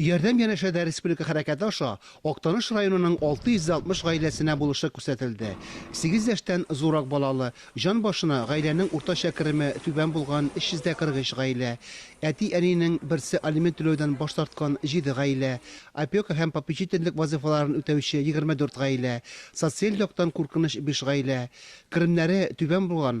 Ярдәм янәшәдә республика хәрәкәте аша Актаныш районының 660 гаиләсенә булышлык күрсәтелде. Сигез яшьтән зуррак балалы, җан башына гаиләнең уртача кереме түбән булган 343 гаилә, әти-әнинең берсе алимент түләүдән баш тарткан 7 гаилә, опека һәм попечительлек вазыйфаларын үтәүче 24 гаилә, социаль яктан куркыныч 5 гаилә, керемнәре түбән булган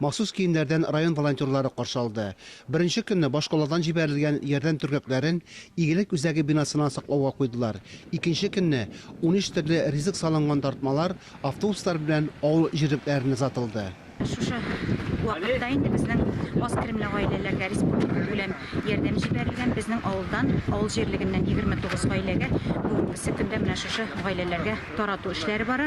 Махсус киемнәрдән район волонтерлары каршы алды. Беренче көнне башкаладан җибәрелгән ярдәм төргәкләрен Игелек үзәге бинасына саклауга куйдылар, икенче көнне унөч төрле ризык салынган тартмалар автобуслар белән авыл җирлекләренә озатылды. Шушы вакытта инде безнең аз керемле гаиләләргә республика күләм ярдәм җибәрелгән. Безнең авылдан, авыл җирлегеннән егерме тугыз гаиләгә бүгенгесе көндә менә шушы гаиләләргә тарату эшләре бара.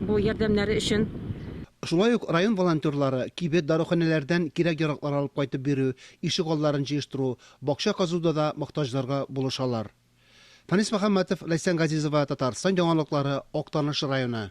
бу ярдәмнәре өчен. Шулай ук район волонтерлары кибет, даруханәләрдән кирәк-яраклар алып кайтып бирү, ишек алларын җыештыру, бакча казуда да мохтаҗларга булышалар. Фанис Мөхәммәтов, Ләйсән Газизова, Татарстан яңалыклары, Актаныш районы.